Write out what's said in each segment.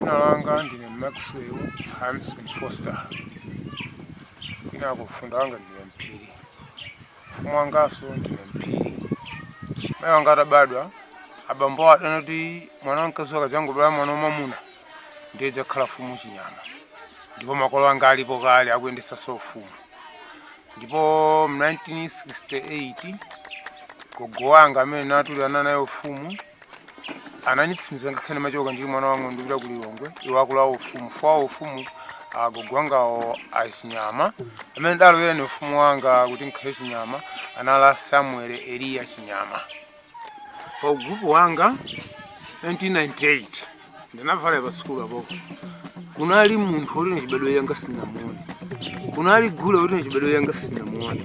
Dzina langa ndine Maxwell Hanson Foster, kwinako mfunda wanga ndine mphiri, ufumu wanganso ndine mphiri. Mayi wanga atabadwa, abambo awo adanati mwana wamkazi akadzangobala mwana wamwamuna ndiye dzakhala mfumu chinyama, ndipo makolo anga alipo kale akuyendetsanso ufumu. Ndipo mu 1968 gogo wanga amene natulirana naye ufumu ananitsimiza ngakhale machoka ndili mwana wang'ono ndipita ku lilongwe iwo akulowa ufumu fowa ufumu agogo wangawo achinyama amene ndalowera ni ufumu wanga kuti nkhale chinyama anali samuel eliya chinyama pa ugrupu wanga 1998 ndinavala pa sukulu apo kunali munthu woti nachibadwire changa sinamuone kunali gule woti nachibadwire changa sinamuone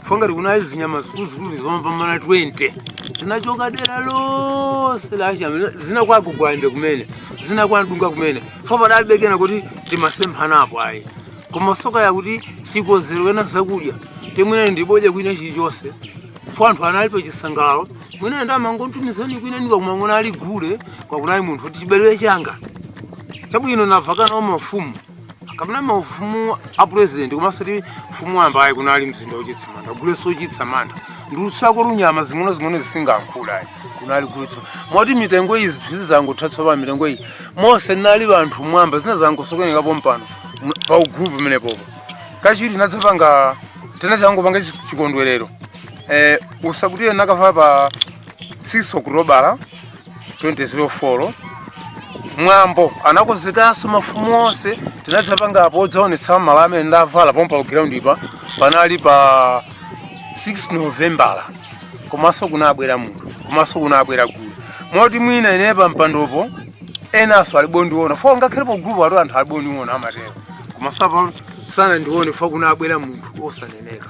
fongati kunali zinyama zikuluzikulu zomapambana 20 zinachoka dera lonse lachama zina kwa gogo gwande kumene zina kwa ndunga kumene fo padalibe kunena kuti timasemphanapo ayi koma soka yakuti chikonzero wena zakudya temwene ndibodya kwina chilichonse fo anthu anali pa chisangalalo mwina ndamangotumizani kwina niba kumangona ali gule kwa kunali munthu kuti chibadwire changa chabwino navala kuna mafumu akamuna mafumu a president komanso ti mfumu wamba ayi kunali mzinda wochitsa manda guleso wochitsa manda ndiutsako lunyama zing'ono zing'ono zisingankhula ayi kunali gulitsa moti mitengo iyi zinthu zizangotha tsopano mitengo iyi monse muli anthu mwamba zinadzangosokonekera pompano mu- pa ugulupu pamenepopo kachiwiri nadzapanga tinadzangopanga chikondwerero eh, usakutiye nakavala pa 6 okutobala 2004 mwambo anakonzekanso mafumu onse tinadzapanga apo odzaonetsa malo amene ndavala pompa pa ground pa panali pa 6 novembala komanso kunabwera munthu komanso kunabwera gulu moti mwina ine pa mpandopo enanso alibondiona fo ngakhale pa gulupo atu anthu alibondiona amatero komanso apa sanandione fo kunabwera munthu osaneneka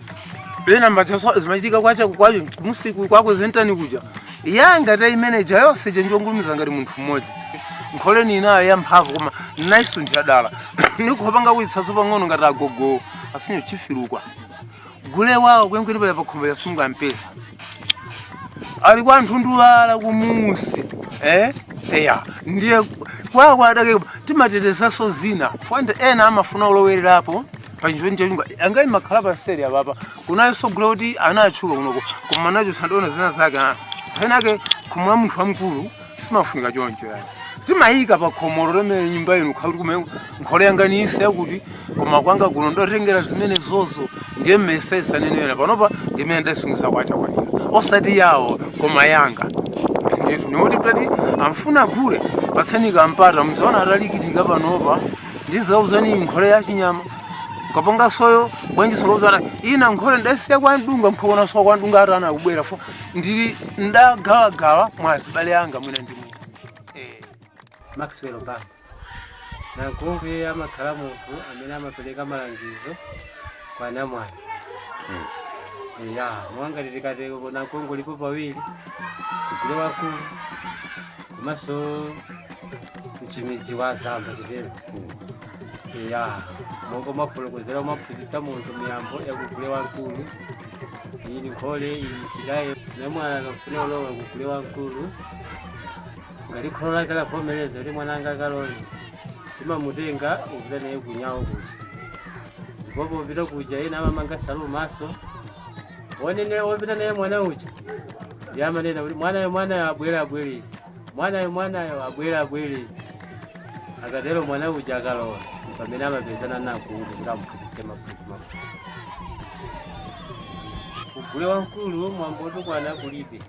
pena mbachaso zimachitika kwacha kwacho musiku kwako zentani kuja yanga ta imeneja yonse chenjongulumiza ngati munthu mmodzi nkholeni inayo yamphamvu koma naisunthira dala nikupanga kuitsaso pang'ono ngati agogo asinyo chifirukwa gule wawo kwenkweni paya pakhombo ya sungu ampesa ali kwa nthundulala kumusi eh eya ndiye kwawo adake timatetezanso zina fwande ena amafuna ulowererapo pachizoni cholunga angai makhala paseri apapa kunyawonso gule kuti anatchuka kunoko koma nacho sandiona zina zake ana penapake khomo la munthu wamkulu simafunika choncho yani timayika pa khomo lomwe nyumba inu khakuti kume nkhole yanga niyise yakuti koma kwanga kuno ndotengera zimene zozo ndiye mmesa isanenera panopa ndimene ndasungiza kwacha kwanira osati yawo koma yanga ndithu nikuti kuti amafuna gule patseni kampata mudzaona atalikitika panopa ndizauzani nkhole ya chinyama kapanga soyo bwanji sokozara ina nkhole ndasiya kwa mdunga mphokona sowa kwa mdunga atana kubwera fo ndili ndagawagawa mwa azibale anga mwina ndi mwina eh. maxwell banda nankungwi amakhala munthu amene amapereka malangizo kwa namwali ya monga titikateko nankungwi alipo pawiri kugule wamkulu komanso mchimudzi wa azamba chitero ya monga mwafotokozera umaphunzitsa munthu miyambo yakugule wamkulu iyi ni nkhole iyi ni chidaye naye mwana akafuna ulowa kugule wamkulu ngati kholo lake lavomereza kuti mwana wanga akalowe timamutenga upita naye kunyawo kuja ndipo popita kuja ena amamanga nsalu mmaso onene opita naye mwana uja amanena kuti mwanayo mwanayo abwere abwere mwanayo mwanayo abwere abwere akatero mwana uja akalowa pamene amapezana nakulu kuti amphunzitse maphunzi maphunziro kugule wamkulu mwambo otukwana kulibe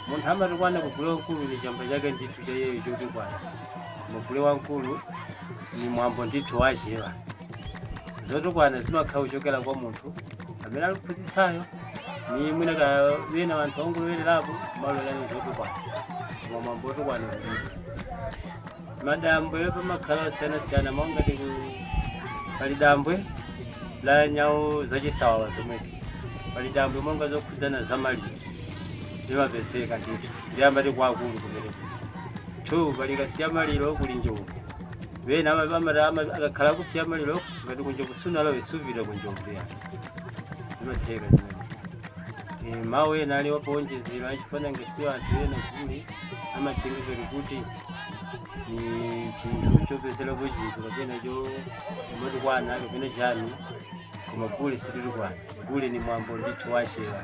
munthu amatukwana kugule wamkulu ni chamba chake ndithu cha iyeyo chotukwana koma gule wamkulu ni mwambo ndithu wachewa zotukwana zimakhala kuchokera kwa munthu amene akuphunzitsayo ni mwina ka bena wanthu ongolowelerapo amalowa ni zotukwana koma mwambo otukwana kulibe madambwe pamakhala osiyanasiyana monga ti pali dambwe la nyawu zachisawawa zomwezi pali dambwe monga zokhudzana za maliro limapezeka ndithu ndiye amati kwa akulu kumeneko two pali kasiya maliro kuli njovu Bena ama- ama- ama- akakhala kusiya maliro ngati kunjovu sunalowe supita kunjovu ya zimatheka zimenezi Eh, mawu ena ali apowonjezera achifanange siyo anthu ena kuli amatengekera kuti ni chinthu chopezerapo chinthu kapena cho umatukwana kapena chani koma gule sititukwana gule ni mwambo ndithu wachewa